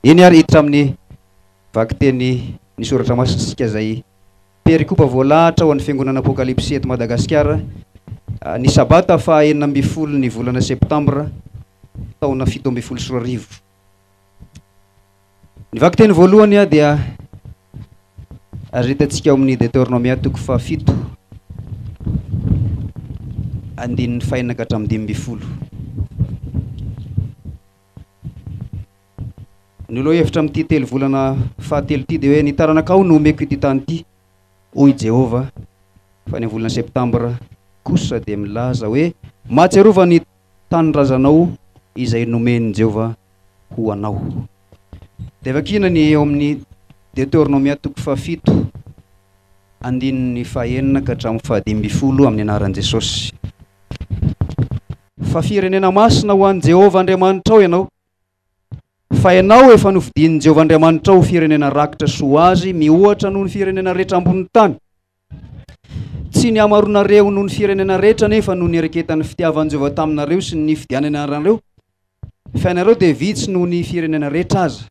Eny ary hiditra amin'ny vakitenin'ny soratra masina isika izay perikopa voalahatra ao amin'ny fiangonana Apokalypsy eto Madagasikara ny sabata faha enina ambin'ny folo ny volana septambra taona fito ambin'ny folo sy roa arivo. Ny vakiteny voalohany dia azo hitantsika ao amin'ny Deteronomia toko faha fito andininy fahenina ka hatramin'ny dimy ambin'ny folo. Ny lohahevitra amin'ity telo volana fahatelo ity dia hoe ny taranakao no omeko ity tany ity, hoy i Jehovah. Fa ny amin'ny volana septambra kosa dia milaza hoe, Mahatsiarova ny tanindrazanao izay nomen'i Jehovah ho anao. Dia vakiana ny eo amin'ny Deoteronomia toko fahafito, andininy fahaenina ka hatramin'ny fahadimy ambin'ny folo amin'ny anaran'i Jesosy. Fa firenena masina ho an'i Jehovah Andriamanitrao ianao, fa ianao efa nofidin'i Jehovah Andriamanitrao ho firenena rakitra sy ho azy mihoatra noho ny firenena rehetra ambonin'ny tany. Tsy ny hamaroanareo noho ny firenena rehetra anefa no niereketan'ny fitiavan'i Jehovah taminareo sy ny nifidianany anareo, fa ianareo dia vitsy noho ny firenena rehetra aza.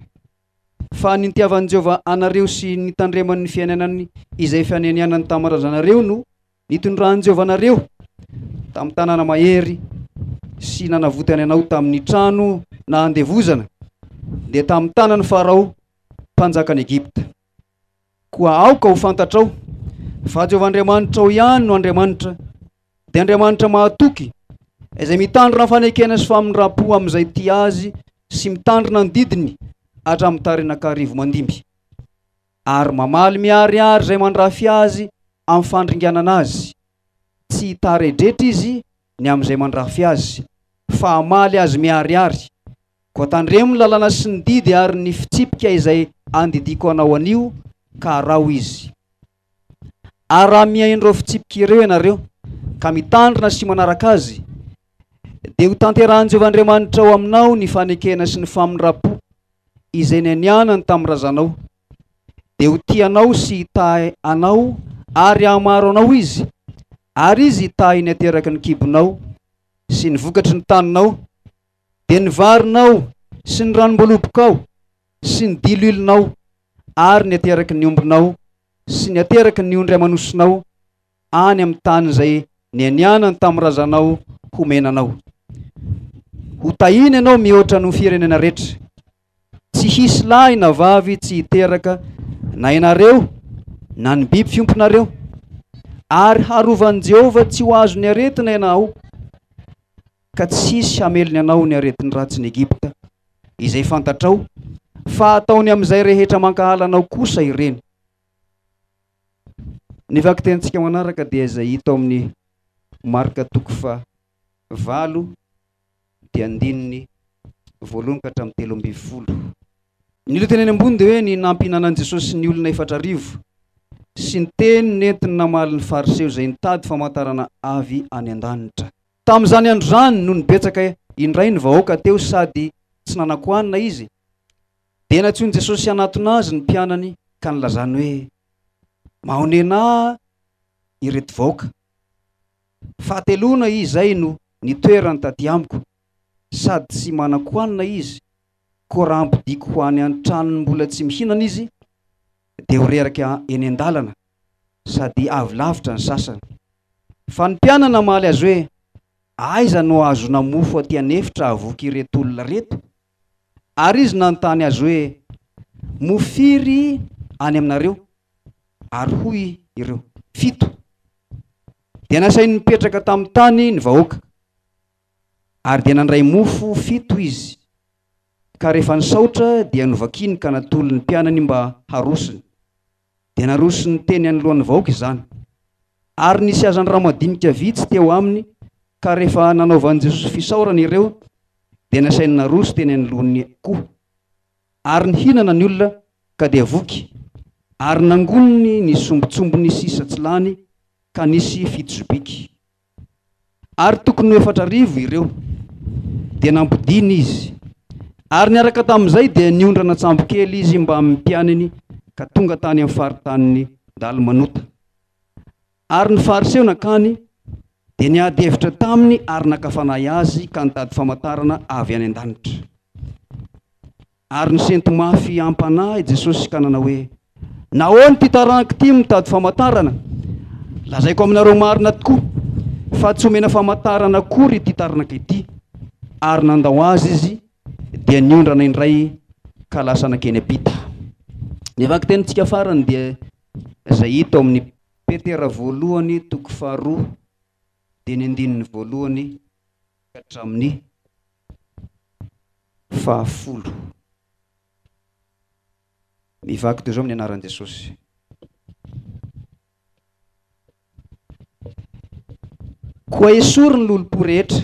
Fa ny nitiavan'i Jehovah anareo sy nitandremany ny fiainanany izay fanenianany tamin'ny razanareo no Nitondran'i Jehovah anareo tamin'ny tanana mahery sy nanavotany anao tamin'ny trano na andevozana, dia tamin'ny tanan'i Farao, mpanjakan'i Egypta. Koa aoka ho fantatrao fa Jehovah Andriamanitrao ihany no Andriamanitra, dia Andriamanitra mahatoky, izay mitandrina fanekena sy famindram-po amin'izay tia azy sy mitandrina ny didiny hatramin'ny tarenan-karivo mandimby. ary mamaly miharihary izay mandrafy azy amin'ny fandringanana azy, tsy hitaredretra izy ny amin'izay mandrafy azy, fa hamaly azy miharihary. Koa tandremo ny lalana sy ny didy ary ny fitsipika izay andidiako anao anio, ka araho izy. Ary raha mihaino ireo fitsipika ireo ianareo, ka mitandrina sy manaraka azy, dia hotanterahin'i Jehovah Andriamanitrao aminao ny fanekena sy ny famindram-po, izay nianianany tamin'ny razanao, dia ho tia anao sy hitahy anao ary hahamaro anao izy, ary izy hitahy ny ateraky ny kibonao sy ny vokatry ny taninao, dia ny varinao sy ny ranom-boalobokao sy ny diloilonao ary ny ateraky ny ombinao sy ny ateraky ny ondry aman'osinao, any amin'ny tany izay nianianany tamin'ny razanao homena anao. Ho tahina ianao mihoatra noho firenena rehetra. Tsy hisy lahy na vavy tsy hiteraka na ianareo na ny biby fiompinareo. Ary harovan'i Jehovah tsy ho azon'ny aretina ianao, ka tsy hisy hamelony anao ny aretin'ny ratsin'i Egypta, izay fantatrao fa ataony amin'izay rehetra mankahala anao kosa ireny. Ny vakitentsika manaraka dia izay hita ao amin'ny marika toko faha valo dia andininy voalohany ka hatramin'ny telo ambin'ny folo. Ny lohateny eny ambony dia hoe ny nampihinanan'i Jesosy ny olona efatra arivo sy ny teny nentiny namaly ny Fariseo izay nitady famantarana avy any an-danitra. Tamin'izany andro izany no nibetsaka indray ny vahoaka teo sady tsy nanan-kohanina Izy. Dia nantsoin'i Jesosy hanatona Azy ny mpianany ka nilazany hoe, Mahonena ireto vahoaka. Fahateloana izay no nitoerany taty amiko, sady tsy manan-kohanina izy, koa raha ampodiako ho any an-tranony mbola tsy mihinana izy, dia ho reraka eny an-dalana, sady avy lavitra ny sasany. Fa ny mpianany namaly Azy hoe, Aiza no hahazoana mofo aty an'efitra hahavoky ireto olona ireto? Ary izy nanontany azy hoe, Mo firy any aminareo? Ary hoy ireo, Fito. Dia nasainy nipetraka tamin'ny tany ny vahoaka, ary dia nandray mofo fito izy, ka rehefa nisaotra dia novakiny ka natolony mpianany mba harosony. dia narosony teny anoloan'ny vahoaka izany. Ary nisy hazan-drano madinika vitsy teo aminy, ka rehefa nanaovan'i Jesosy fisaorana ireo, dia nasainy naroso teny anoloany koa. Ary nihinana ny olona, ka dia voky, ary nangoniny ny sombintsombiny sy satsilany, ka nisy fito zobiky. Ary tokony ho efatra arivo ireo. Dia nampodiany izy. Ary niaraka tamin'izay dia niondrana an-tsambokely izy mbamin'ny mpianany ka tonga tany amin'ny faritanin'i Dalmanota. Ary ny Fariseo nankany, dia niady hevitra taminy ary naka fanahy azy ka nitady famantarana avy any an-danitra. Ary nisento mafy hiampanahy i Jesosy ka nanao hoe, Nahoana ity taranaka ity mitady famantarana? Lazaiko aminareo marina tokoa, fa tsy homena famantarana akory ity taranaka ity. Ary nandao azy izy, dia niondrana indray ka lasa nankeny am-pita. Ny vakin-tenintsika farany dia izay hita ao amin'ny Petera voalohany toko faharoa dia ny andininy voalohany ka hatramin'ny Fahafolo, Mivaky toy izao amin'ny anaran'i Jesosy. Koa esory ny lolompo rehetra,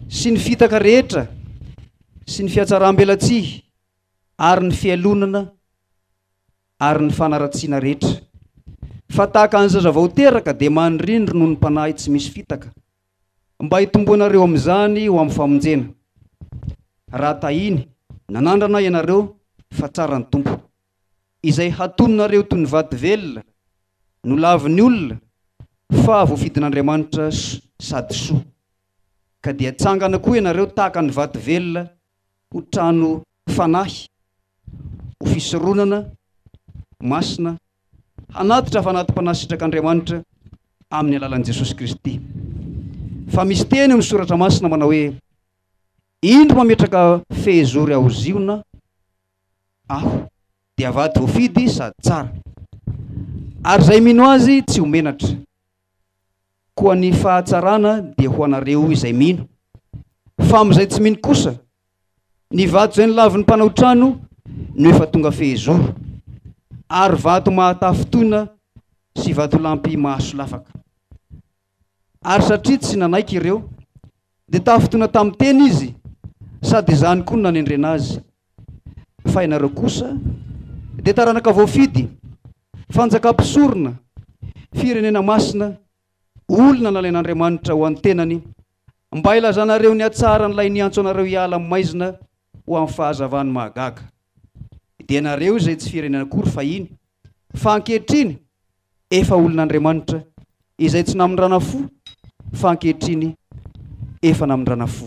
sy ny fitaka rehetra, sy ny fihatsaram-belatsihy, ary ny fialonana, ary ny fanaratsiana rehetra. Fa tahaka ny zaza vao teraka, dia manirindry noho ny Mpanahy tsy misy fitaka. Mba hitomboanareo amin'izany ho amin'ny famonjena. Raha tahiny, nanandrana ianareo fa tsara ny Tompo. Izay hatononareo toy ny vato velona, nolavin'ny olona, fa voafidin'Andriamanitra sady soa. Ka dia tsangana koa ianareo tahaka ny vato velona ho trano fanahy, ho fisoronana masina, hanatitra fanati-panasitrak'Andriamanitra amin'ny alalan'i Jesosy Kristy. Fa misy teny amin'ny Soratra Masina manao hoe, Indro mametraka fehizory ao Ziona Aho, dia vady voafidy sady tsara, ary izay mino Azy tsy ho menatra. Koa ny fahatsarana dia ho anareo izay mino. Fa amin'izay tsy mino kosa, ny vato izay nolavin'ny mpanao trano no efa tonga fehezoro, ary vato mahatafy toina sy vatolampy mahasolafaka. Ary satria tsy nanaiky ireo, Dia tafitona tamin'ny teny izy, sady izany koa no nanendrena azy. Fa ianareo kosa dia taranaka voafidy, fanjaka mpisorona, firenena masina, olona nalain'Andriamanitra ho an-tenany, mba hilazanareo ny hatsaran'ilay niantso anareo hiala amin'ny maizina ho amin'ny fahazavany mahagaga. Dia ianareo izay tsy firenena akory fahiny, fa ankehitriny efa olon'Andriamanitra, izay tsy namindrana fo fa ankehitriny efa namindrana fo.